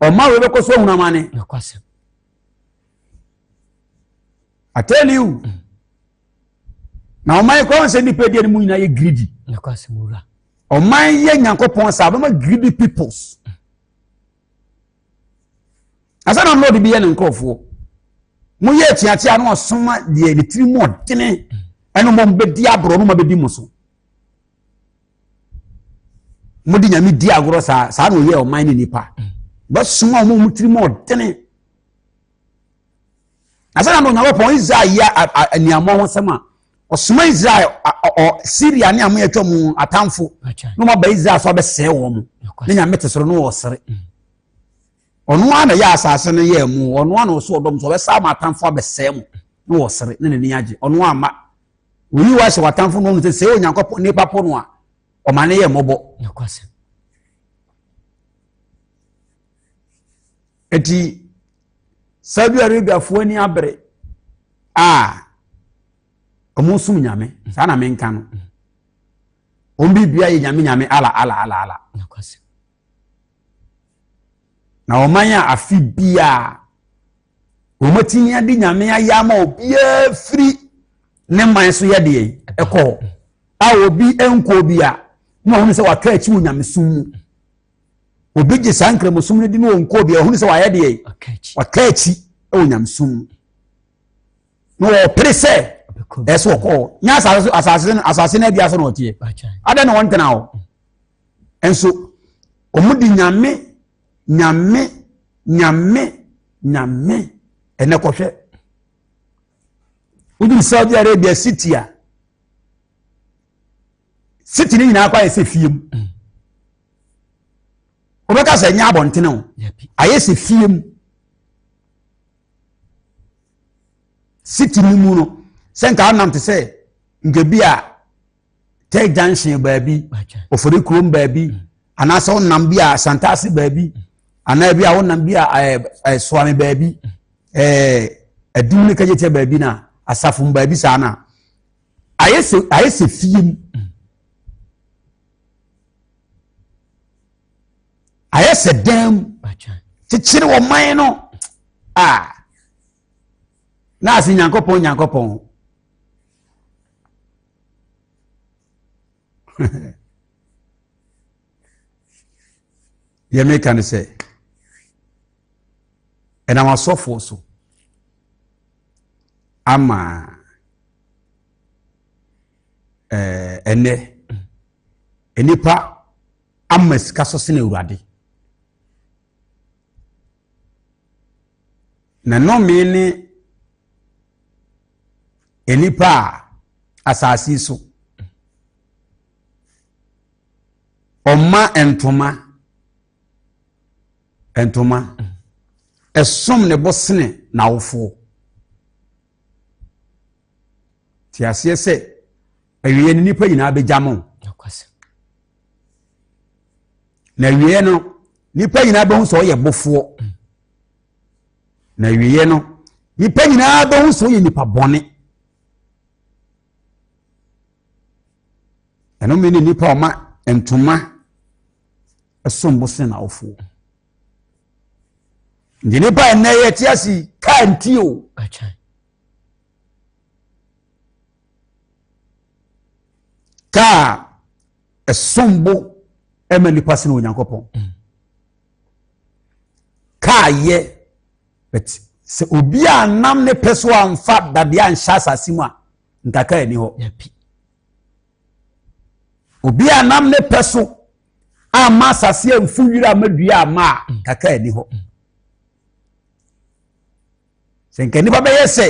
ɔma wei bɛkɔ so ahunama ne atɛniw na ɔman kora sɛ nipa deɛ no mu nyinaa yɛ greedy ɔman yɛ nyankopɔn saa bɛma greedy peoples asɛ na lord bi yɛ ne nkurɔfoɔ moyɛ akyiakyia na ɔsoma deɛ ne tiri mu ɔdene ɛno mmɔ mbɛdi aborɔ no ma bɛdi mo so mode nyame di agorɔ saa saa na ɔyɛ ɔman ne nipa bɛsoma ɔma ɔmo tiri mu ɔdene Ansa na Onyankopɔn Israel yɛ aniammɔ ho asɛm a, ɔsoma Israel Syria ne amoyɛ atwa mu atamfo na wɔaba Israel so abɛsɛe wɔn. Ne nyame te soro no wɔ sere. Mm. Ɔno ara na yɛ asase no yɛ mu, ɔno ara na ɔso ɔdɔm so ɔbɛsa ama atamfo abɛsɛe mu na wɔ sere ne n'ani agye. Ɔno ara ma oyi wa hyɛ w'atamfo no sɛ sɛ Onyankopɔn nipa po no a ɔma ne yɛ mmɔbɔ. Eti Saudi Arabiafoɔ ani abere a wɔn som nyame saa na menka no wɔn biribia yɛ nyame nyame ala ala ala ala na ɔman a afe biara wɔn atumi ade nyame ayɛ ama obiara firi ne man so yɛ deɛ ɛkɔ a obi nkɔ bi a na wɔn sɛ watɔ akyi wɔ nyamesom mu obi gye saa nkramosom no di no wɔn kɔɔ bi ɔhunu sɛ wayɛ deɛ waka akyi wɔ nyamesom na wɔpere sɛ ɛsɛ wɔkɔɔ nyɛ asase asase no asase no adua so na ɔteɛ adɛn na wɔntena hɔ nso wɔn di nyame nyame nyame nyame ɛnɛ kɔhwɛ woduru saudi arabia city a city ne nyinaa kɔ ayɛ sɛ fie mu mm. wobɛka sɛ ɛnyɛ abɔntene o ayɛ sɛ fie mu city no mu no sɛ nka wonam te sɛ nka bi a tɛ junction baabi ofori kurom baabi mm. anaasɛ wonam bi a santase baabi mm. anaa bi a wonam bi a eh, eh, soame baabi mm. eh, adum ne kagyetia baabi na asafo baabi saa no a ayɛ sɛ ayɛ sɛ fie mu ayɛ sɛ dan mu kyekyere ɔman no a na ase nyankopɔn nyankopɔn deɛ meka ne sɛ ɛnam asɔfoɔ so ama ɛɛ eh, ɛnɛ nnipa ama sika so sene awurade na nnome ne nnipa a asase so Ɔma ntoma ntoma ɛsom ne bo sene n'awofoɔ. Te aseɛ sɛ awieɛ no nnipa nyinaa bɛgya mo. Na awieɛ no nnipa nyinaa bɛhu sɛ ɔyɛ bofoɔ. Na awieɛ no nnipa nyinaa bɛhu sɛ ɔyɛ nipa bɔne. Ɛno me ne nnipa a ɔma ntoma ɛsom bo sen awofoɔ. Nti nnipa a ɛnɛ yɛ te ase kaa nti o. Kaa ɛsom bo ɛma nnipa sen Onyankopɔn. Mm. Kaa yɛ. But sɛ obi a nam ne pɛ so amfa dadeɛ anhyɛ asase mu a, nkaka ani hɔ. Obi a nam ne pɛ so amma asase amfu wira amma dua amma a, mm. nkaka ani hɔ. Mm. Sɛ nka nnipa bɛyɛ sɛ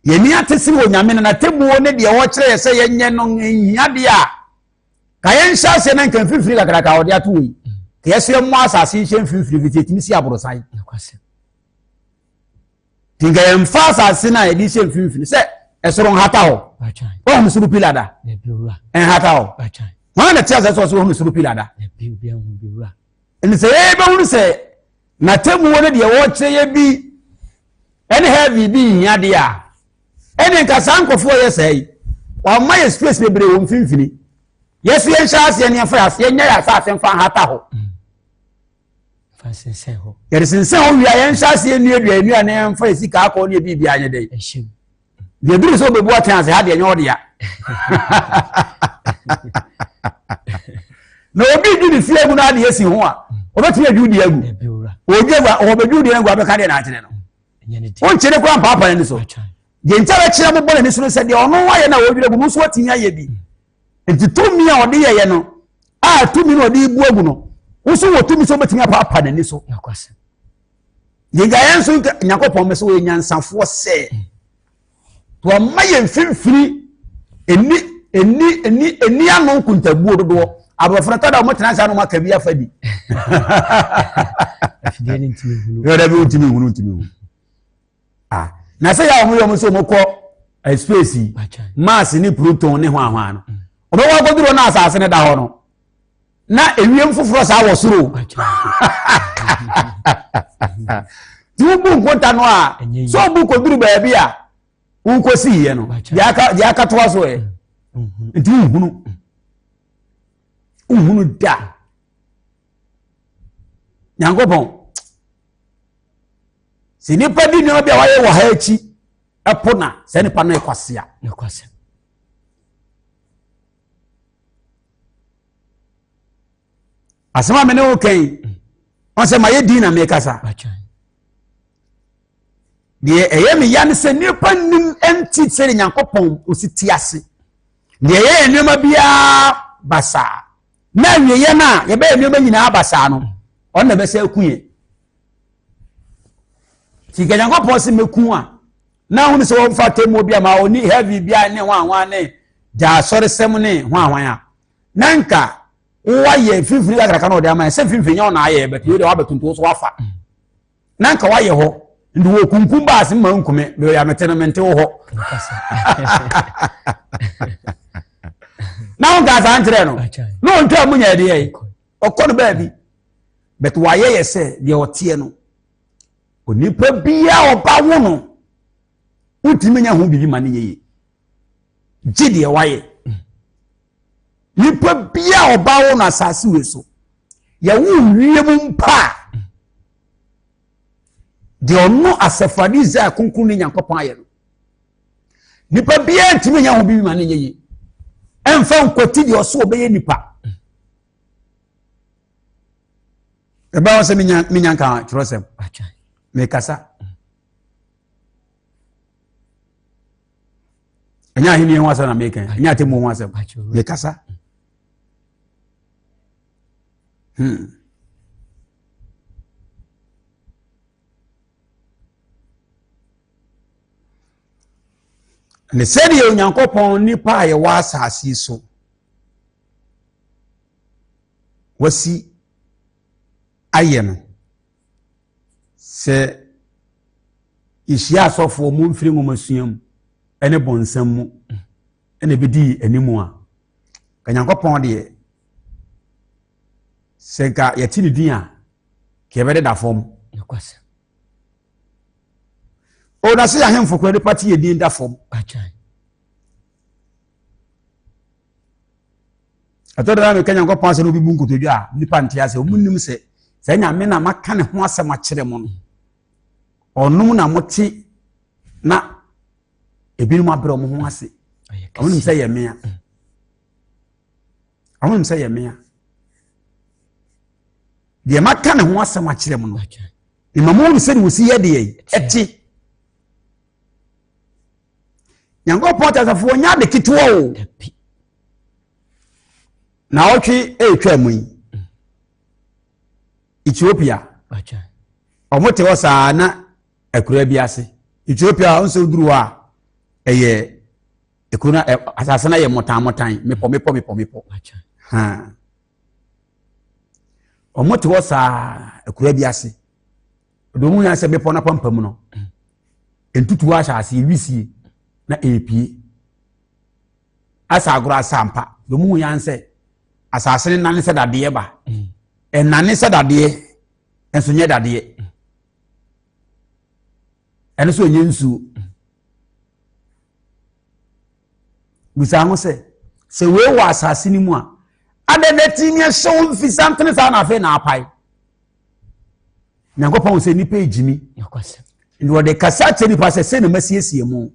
yɛni ate se wɔ nyame no n'atemmuo ne deɛ ɔkyerɛ yɛ sɛ yɛnyɛ no nhia deɛ a ka yɛn nhyɛ aseɛ na nka mfimfini kakraka a wɔde ato wɔ yi ka yɛso yɛ mmɔ asase nhyɛ mfimfini fiti etimi si aborosan ti nka yɛn fa asase na yɛde hyɛ mfimfini sɛ ɛsoro nhata hɔ wɔn mu soro pila da nhata hɔ wɔn na te asɛ sɛ ɔsoro wɔn mu soro pila da Ɛnti sɛ yɛbɛhunu sɛ n'atemmuo no deɛ wɔrekyerɛ yɛ bi ɛne heavy bi nhia deɛ a ɛne nka saa nkurɔfoɔ yɛ saa yi wɔama yɛ space bebree wɔ mfimfini yɛso yɛnhyɛ aseɛ ne yɛmfa yɛ aseɛ nyɛ yɛ asase mfa nhata hɔ yɛde sensɛn hɔ wie a yɛnhyɛ aseɛ nnuadua nnua ne yɛmfa yɛ sika akɔ ne yɛ biribi anyɛ dɛ deɛ duru sɛ wobɛbu atɛn ase ha deɛ ɛnyɛ ɔdea na obi dwi ne fie agu no adeɛ si ho a ɔbɛtumi adwu deɛ agu ɔbɛdwu deɛ agu abɛka deɛ naakyerɛ no wonkyere kora mpaapa no so deɛ nkyɛ bɛkyerɛ mobɔ n'ani so no sɛ deɛ ɔno ayɛ no a wɔdwerɛ gu no nso atumi ayɛ bi Enti tumi a ɔde yɛyɛ no a tumi na ɔde bu agu no woso wɔ tumi sɛ wobɛtumi apaapa n'ani so yɛgyaeɛ nso nyankopɔn mɛ sɛ wɔyɛ nyansafoɔ sɛ wɔma yɛ mfimfini ɛni ɛni ɛni ɛni ano nkontabuo dodoɔ aborɔforo tɔ da wɔn tena saa na wɔn aka bi afa di yɛrɛ bi ntumi hunu ntumi hunu ah na sɛ yà wɔn yɛ wɔn sɛ wɔn kɔ eh, space yi mars ne pluton ne hwan hwan no mm. wɔn wɔ akɔduro na asase ne da hɔ no na ewiem foforɔ saa wɔ soro tí wọ́n bu nkota no a sọ bu kɔduru baabi a wọ́n kɔ si yɛ no deɛ akatoa so yɛ mm-hmm. nti nhunu nhunu da. nyankopɔn sɛ nnipa di nneɛma bi a wayɛ wɔ ha akyi ɛpo na saa nipa no ɛkwasea ɛkwasea asɛm a me ne wo kɛn wɔn sɛ mayɛ din na mekasa deɛ ɛyɛ me ya ne sɛ nnipa nim nti sɛ ne nyankopɔn ɔsi ti ase deɛ ɛyɛ nneɛma biara basaa na awieeɛ no a yɛbɛyɛ nneɛma nyinaa basaa no ɔno na ɛbɛsɛ aku yɛn nti nka nyankopɔn se mɛku a na ahunu sɛ wɔmfa atemmuo bi ama ɔni heavy bi a ne ho ahoa ne gya asɔresɛm ne ho ahoan a na nka woayɛ mfimfini kakraka na ɔde ama yɛ sɛ mfimfini nyɛ ɔna ayɛ bɛtɛ wei deɛ wabɛtonto so wafa na nka wayɛ hɔ nti wɔ kunkum baase ma nkume bɛyɛ amete no mente wo hɔ na wo nka saa nkyerɛ no na ɔntwa mu nya ɛdeɛ yi ɔkɔ no baabi but wayɛ yɛ sɛ deɛ ɔteɛ no onipa biaa ɔba wo no wotumi nya ho biribi ma no yɛye gye deɛ wayɛ Nipa bia a ɔba wɔ no asase wei so yɛwo wiem mpa a deɛ ɔno asɛfade israel kronkron ne nyankopɔn ayɛ no nipa biara ntumi nyɛ ho bibi ma no nyɛ yie ɛmfa nkwati deɛ ɔso ɔbɛyɛ nipa ɛbɛn wɔn sɛ menya nka twerɛsɛm mekasa ɛnyɛ ahenni ho asɛm na meka ɛnyɛ atemmu ho asɛm mekasa hmm. ne sɛdeɛ onyankopɔn nipa a yɛwɔ asase so wasi ayɛ no Sɛ yɛhyia asɔfo a wɔmfiri nwomasua mu ne bɔnsam mu na ɛbɛdi yɛn anim a, ka Nyankopɔn deɛ, sɛ nka yɛte ne din a, ka yɛbɛdeda fam. O, na sɛ yɛahemfo kora nipa te yɛn din da fam. ɛtɔ da na meka nyankopɔn asɛm no bi bu nkotodwe a nnipa nte asɛ ɔmu nnim sɛ saa nyame na maka ne ho asɛm akyerɛ mo no ɔnom na mote na ebinom abrɛ ɔmo ho ase ɔmo nim sɛ yɛ mmea mm. ɔmo nim sɛ yɛ mmea deɛ maka ne ho asɛm akyerɛ mo no mma mo hu sɛ ne wɔsi yɛ deɛ ɛte nyankopɔn te asafo wɔnyɛ ade ketewa o na ɔtwe ɛretwa mu yi ethiopia wɔn te hɔ saa na akura bi ase ethiopia wɔn sɛ duru hɔ a ɛyɛ ekuro na ɛ asase na yɛ mɔtanmɔtan mepɔ mepɔ mepɔ mepɔ hàn wɔn te hɔ saa akura bi ase. Ɔde wɔn yɛ sɛ bepɔ n'apampam no, ntutuo ahyɛ aseɛ wisie na ɛrepie. Asa agorɔ asa mpa. Deɛ wɔn yɛ sɛ asase no nane sɛ dadeɛ ba. Ɛnane sɛ dadeɛ nso nyɛ dadeɛ. Ɛno nso ɛnyɛ nsuo. Bisa ho sɛ sɛ wei wɔ asase no mu a, adɛn na ɛtumi ahyɛ wo mfisantene saa na afei na apae? nyankopɔn hu sɛ nnipa ɛgyimi nti wɔde kasa akyerɛ nipa sɛ sɛ na masiesie mu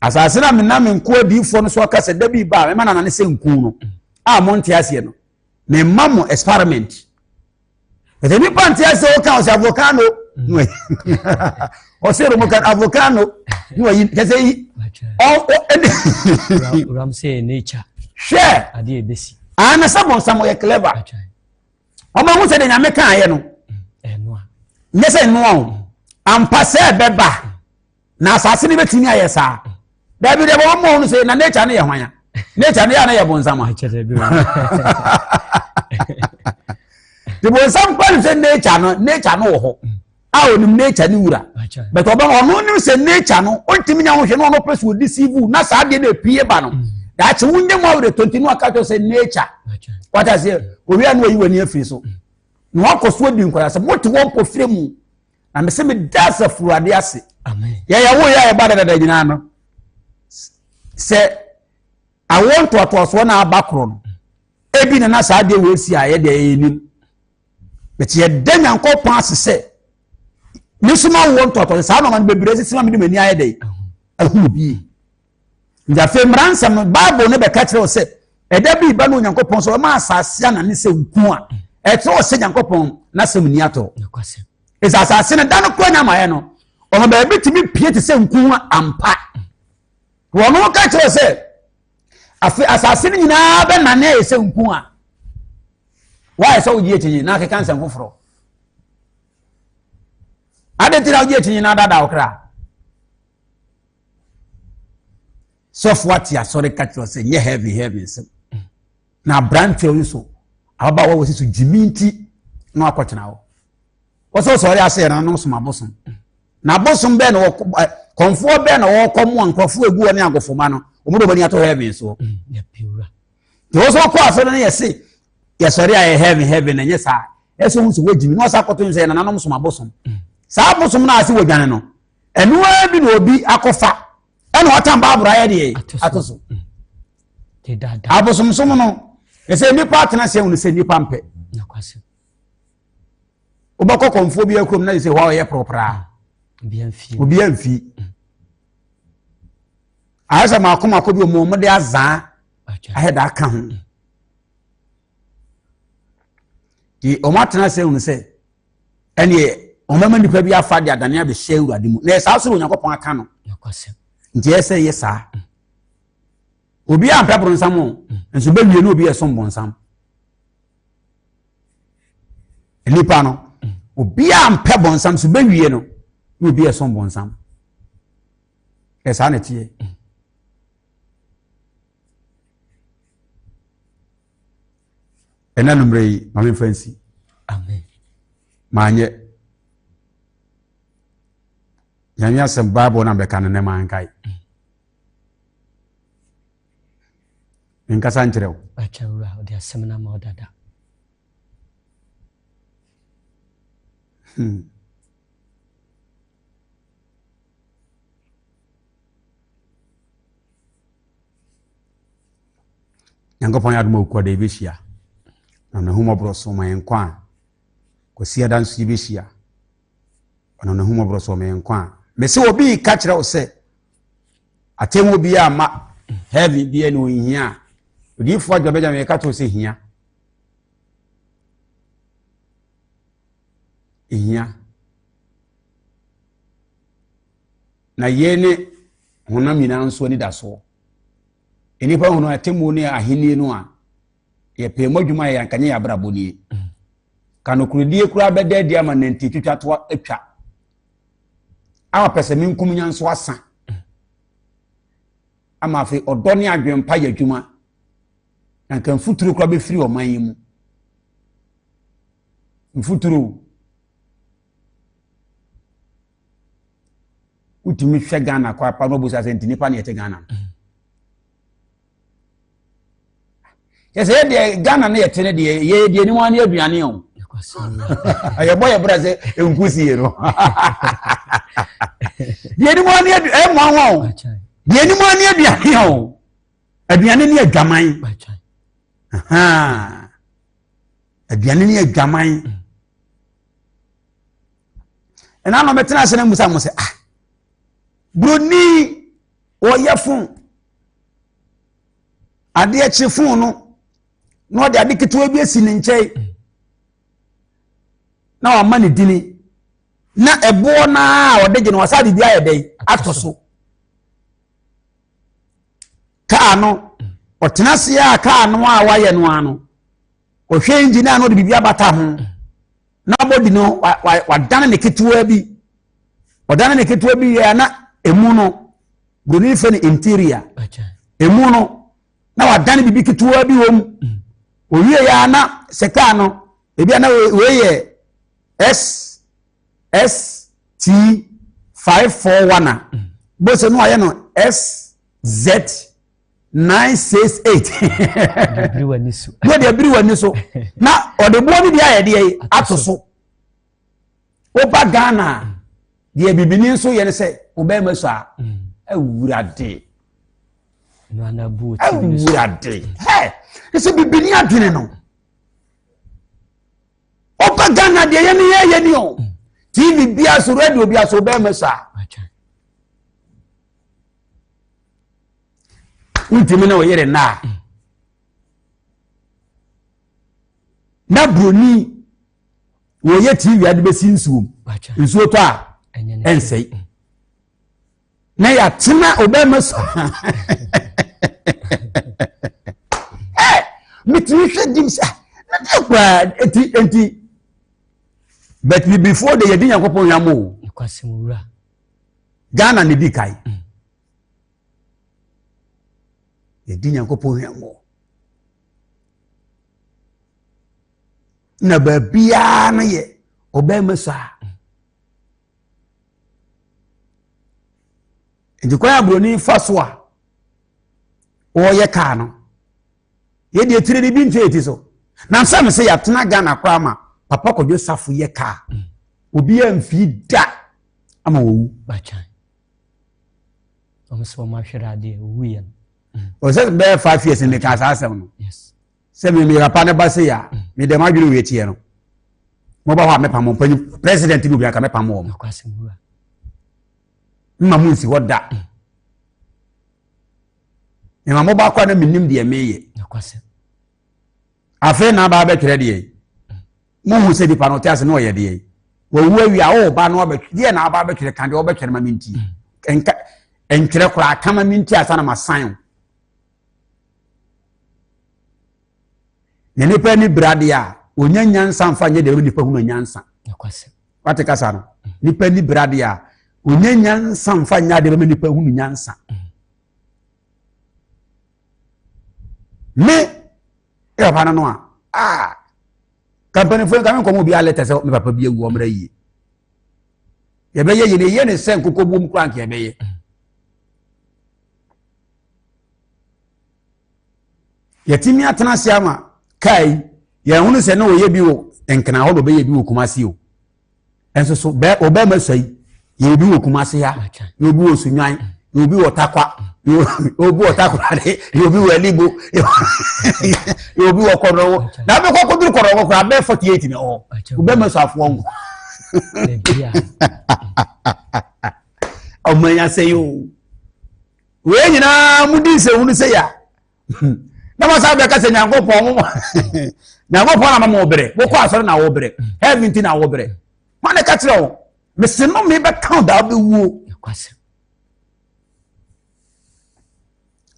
asase no a mena me nko adiifoɔ no so aka sɛ da bi ba a mɛma nanane sɛ nku no a monte aseɛ no memma mo experiment ɛsɛ nipa nti ɛsɛ o kan ɔsɛ avocado no ɛyi ɔsɛ romo kan avocado no ɛyi kɛsɛ yi ɔ ɔ ɛdi. ram sɛ yɛ n'ekya. hwɛ adi ebesi. aa na sɛ bɔnsam ɔyɛ clever ɔmɔ ɛho sɛ de nyame kan ayɛ no nyɛ sɛ nnoa o ampa sɛ ɛbɛba. na asase no bɛtumi ayɛ saa daabi deɛ bɛma mɔ no sɛ na nature no yɛ hwan a nature no yɛ a na yɛ bonsam a de bonsam kora no sɛ nature no nature no wɔ hɔ a ɔnim nature no wura but ɔbɛma ɔno nim sɛ nature no ɔntumi nya wohwɛ no ɔno pɛ so ɔdi sivu na saa deɛ no ɛpie ba no mm. daakye wonyɛ mu awerɛ tonti no aka kyɛ sɛ nature wata sɛ owia no ayi w'ani afiri so mm. na wakɔ so adi nkwadaa sɛ mote wɔnkɔ firɛ mu na mese meda asafo awurade ase yɛyɛ wo yɛ a yɛba dadada nyinaa no sɛ awo ntoatoasoɔ na aba korɔ no ebi na na saa adeɛ wɔ esi a yɛde ɛyɛ nim bɛti yɛda nyankopɔn ase sɛ mesoma awo ntoatoasoɔ saa nɔɔma no bebree sisi ma mede m'ani ayɛ dɛ ɛhunu bie Nti afei mmaransɛm no Bible no bɛka kyerɛ wo sɛ ɛda bi ba no Onyankopɔn sɛ ɔma asase ana ne sɛ nku a ɛkyerɛ wɔ sɛ Nyankopɔn n'asɛm ni atɔ. Ɛsɛ asase no da no kora nya amaeɛ no ɔma baabi tumi pie te sɛ nku ho ampa. Wɔn no ka kyerɛ sɛ afei asase no nyinaa bɛnane ayɛ sɛ nku a woayɛ sɛ wogye akyinnye na akeka nsɛm foforɔ adɛn nti na wogye akyinnye na adaadaa wo kra sɔfo ate asɔre ka kyerɛ sɛ nyɛ heaven heaven nsɛm na aberante yi so ababaawa wɔ sisi gyimi nti na wakɔtena hɔ wɔsɛ sɔre ase yɛ nanom som abosom na abosom bɛɛ na wɔkɔ kɔnfoɔ bɛɛ na wɔkɔ mu a nkurɔfoɔ egu wɔn ne agofoma no wɔn de wɔn ani ato heaven soɔ te wɔsɛ wɔkɔ asɔre no yɛ se yɛsɔre a yɛ heaven heaven na nyɛ saa ɛsɛ wɔn nso wɔgyimi na wɔsɛ akɔto nsɛ yɛ nanom som abosom saa abosom no ase wɔdwane no ɛno ara bi na obi akɔfa ɛna ɔtan baabura ayɛ deɛ ato so abosomsom no ɛsɛ nnipa atena sɛ wɔn sɛ nnipa mpɛ wobɛkɔ kɔnfoɔ bi akurom na sɛ hɔ a ɔyɛ poroporaa obiara mfi mm. ayɛ sɛ maako maako bi ɔmo ɔmo de azaa ayɛ da aka ho mm. de ɔmo atena sɛ wɔn sɛ ɛneɛ wɔbɛma nipa bi afa de adane abɛhyɛ awurade mu na ɛsaa so na onyankopɔn aka no nti ɛyɛ sɛ yɛ saa obi a mpɛ boronsam o nso bɛwie ne obi ɛsom bonsam nipa no obi a mpɛ bonsam so bɛwie no ne obi ɛsom bonsam ɛsaa na ɛteɛ ɛna numere yi ma me nfa nsi amen maanyɛ nyame asɛm bible na bɛka no nɛ mankae menkasa nkyerɛ wo hmm. Nyankopɔn yɛ adom a okua da yi bɛhyia na ɔno ahumɔborɔ so ma yɛn nkwa a kwasi ada nso yi bɛhyia ɔno no ahumɔborɔ so ma yɛn nkwa a mese obi ka kyerɛ wo sɛ atemmu bi a ma heaven bi ne ɔnhia a odiyifoɔ adwa bɛgya meka to sɛ hia hia Na yei ne honam nyinaa nso anidasoɔ. Nnipa hunu atemmuo ne ahennie no a, yɛpɛ mu adwuma yɛ anka nyɛ yɛn abrabɔ nie. Ka nokorɛdie koraa bɛda adi ama nanti twitwa to atwa. A pɛsɛmenkominya nso asa. Ama afei ɔdɔ ne adwempa yɛ adwuma. Na nka mfuturo koraa bɛfiri ɔman yi mu. Mfuturo. wotumi hwɛ ghana kɔ apa no ɔbusa sɛ nti nipa na yɛte ghana no yɛ sɛ yɛdeɛ ghana no yɛte no deɛ yɛyɛ deɛ anim ane aduane o yɛbɔ yɛ berɛ sɛ ɛnku sie no deɛ anim ane ɛmmoa wa o deɛ anim ane aduane o aduane ne adwaman aduane ne adwaman ɛna na ɔbɛtena ase na mmusa mo sɛ ah buroni ɔyɛ fon adeɛ kye fon no na ɔde ade ketewa bi asi ne nkyɛn na wama ne dini na ɛboɔ no a ɔde gye no wasa biribi ayɛ dɛn ato so kaa no ɔtena ase a kaa no a wayɛ no ano ɔhwɛ engine a na ɔde biribi abata ho na body no wadane ne ketewa bi ɔdane ne ketewa bi yɛ na emu no buroni fɛ no interior emu no na wadane biribi ketewa bi wɔ mu owie yɛ na sɛ kaa no ebi a na wei yɛ s s t five four one a bose no ayɛ no s z. nine six eight. bibiri wɔ ani so. yɛ deɛ biri wɔ ani so na ɔde boɔ no bi ayɛ deɛ yi ato so woba ghana deɛ bibini nso yɛ no sɛ ɔbɛn ma so a mm. awurade awurade hɛ ɛsɛ bibini adwene no woba ghana deɛ yɛ no yɛ yɛ ni o mm. tv bia so radio bia so ɔbɛn ma so a. wontumi ne wo yere nna a na buroni wɔyɛ tv ade bɛsi nsuo mu nsuo tɔ a ɛnsɛe na yɛatena ɔbɛma so metumi hwɛ dim sɛ na deɛ koraa ɛti ɛnti but bibifoɔ de yɛde nyankopɔn yam o ghana ne di kae mm. Yɛdi Nyankopɔn hwammɔ. Na baabiara no yɛ ɔbɛrima saa. Nti kwan aburoni fa so a wɔyɛ kaa no. Yɛde akyire de bi ntwe ti so. Na nsa mi sɛ yɛatena Ghana koraa ma Papa Kwadwo Safo yɛ kaa. Obiara mfii da ama wɔwu. ɔmo sɛ ɔmo ahwere adeɛ owu yɛ no. ɔsɛ bɛyɛ five years ne kaa saa asɛm no sɛ mi mi papa ne ba se ya mm. mi dɛm adwene wo ekyir no mo ba hɔ a mɛpa mo mpanyin president bi obi aka mɛpa mo wɔn mma mo nsi hɔ da mma mm. mo ba kɔ a na mi nim deɛ mi yɛ afei na aba abɛtwerɛ deɛ mm. Mohu sɛ nipa no ɔte ase na ɔyɛ deɛ wawu awia a ɔba no abɛtwe deɛ na aba abɛtwerɛ ka deɛ ɔbɛtwerɛ ma me nti mm. nka ntwerɛ koraa ka ma me nti asa na ma san o na nipa ni bira deɛ a wɔnya nyansa nfa nyɛ deɛ nipa hunu nyansa wate kasa no mm. nipa ni bira deɛ a wɔnya nyansa nfa nyɛ deɛ nipa hunu nyansa. Mm. me yɛ papa no no a aa ka mpanimfoɔ nka me nkɔmɔ obiara lɛtɛ sɛ me papa bi awu ɔmmerɛ yie yɛbɛyɛ yɛ na ɛyɛ ne sɛ nkokɔbuom koraa nka yɛbɛyɛ yɛtumi atena ase ama kaa yi yɛn ho no sɛ na ɔyɛ bi wɔ nkena hɔ na ɔbɛyɛ bi wɔ kumase o nso so bɛɛ ɔbɛɛ ma sɛyi yɛ obi wɔ kumase ha yɛ obi wɔ sunwan yɛ obi wɔ takwa yɛ obi wɔ takorade yɛ obi wɔ alibo yɛ obi wɔ kɔdɔwɔ na bɛ kɔkɔ duru kɔdɔwɔ kora bɛɛ forty eight na ɔwɔ ɔbɛɛ ma sɔ afoɔ nko ɔmɔ ɛnya sɛyi o wei nyinaa mo di nsɛwunu sɛyi a. na wɔn san bɛka sɛ nyankopɔn mo nyankopɔn na mama wɔbrɛ wokɔ asɔre na wɔbrɛ heaven ti na wɔbrɛ wɔn na ɛka kyerɛ wɔn mese no me bɛka da wobɛwuo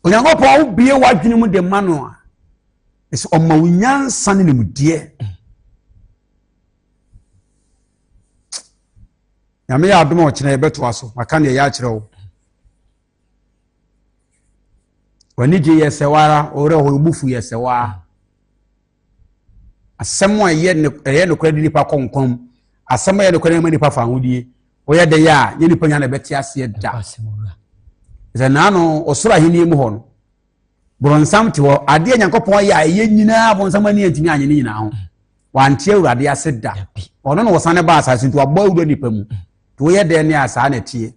onyankopɔn wobie w'adwene mu de ma no a ɛsɛ ɔma wo nyansa ne nimdeɛ nyame yɛ adom a ɔkyena yɛbɛtoa so maka ne ɛyɛ akyerɛ wo W'anigye yɛ sɛ w'ara, wo werɛ ho, wo fo yɛ sɛ w'ara. Asɛm a ɛyɛ no ɛyɛ nokorɛ de nipa kɔ nkwa mu. Asɛm a ɛyɛ nokorɛ ma nipa fa ahodie. Woyɛ dɛ yɛ a, nyɛ nipa nyɛ na ɛbɛte aseɛ da. Sɛ naano ɔsoro ahenni mu hɔ no, borɔnsam te hɔ. Adeɛ Nyankopɔn ayɛ a ɛyɛ nyinaa borɔnsam ani antumi anyɛ ne nyinaa ho. Wante Awurade ase da. Ɔno na ɔsane ba asase nti wabɔ awura nipa mu. Nti woyɛ dɛ ne a saa na ɛteɛ.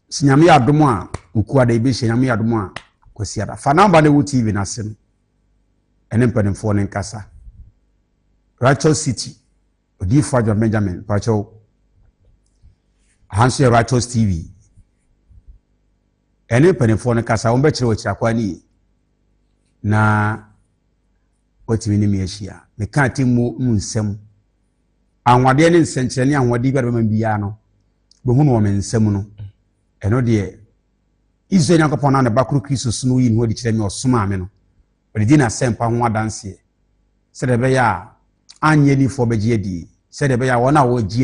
Sɛ Nyame yɛ adom a, Okuada yɛbɛhyia, Nyame yɛ adom a, Kwasiada. Fa number no ɛwɔ TV no ase no, ɛne mpanimfoɔ no nkasa. Righteous City, Odiyifoɔ Adwoa Benjamin, mpakyɛw. Aha nso yɛ Righteous TV. Ɛne mpanimfoɔ no kasa, wɔn bɛkyerɛ wɔ akyiri akwa no yie. Na wɔatumi ne me ahyia. Meka atemmuo mu nsɛm. Anwanwadeɛ ne nsɛnkyerɛnne anwanwadeɛ biara bɛma biara no, bɛhu no wɔ me nsa mu no, ɛno deɛ, Israel Nyankopɔn na ne ba koro Kristo so no woyi ne ho adi kyerɛ me ɔsomaa me no, ɔde di n'asɛmpa ho adanseɛ, sɛdeɛ ɛbɛyɛ a annye adiyifoɔ bɛgye adie, sɛdeɛ ɛbɛyɛ a wɔn a wɔgye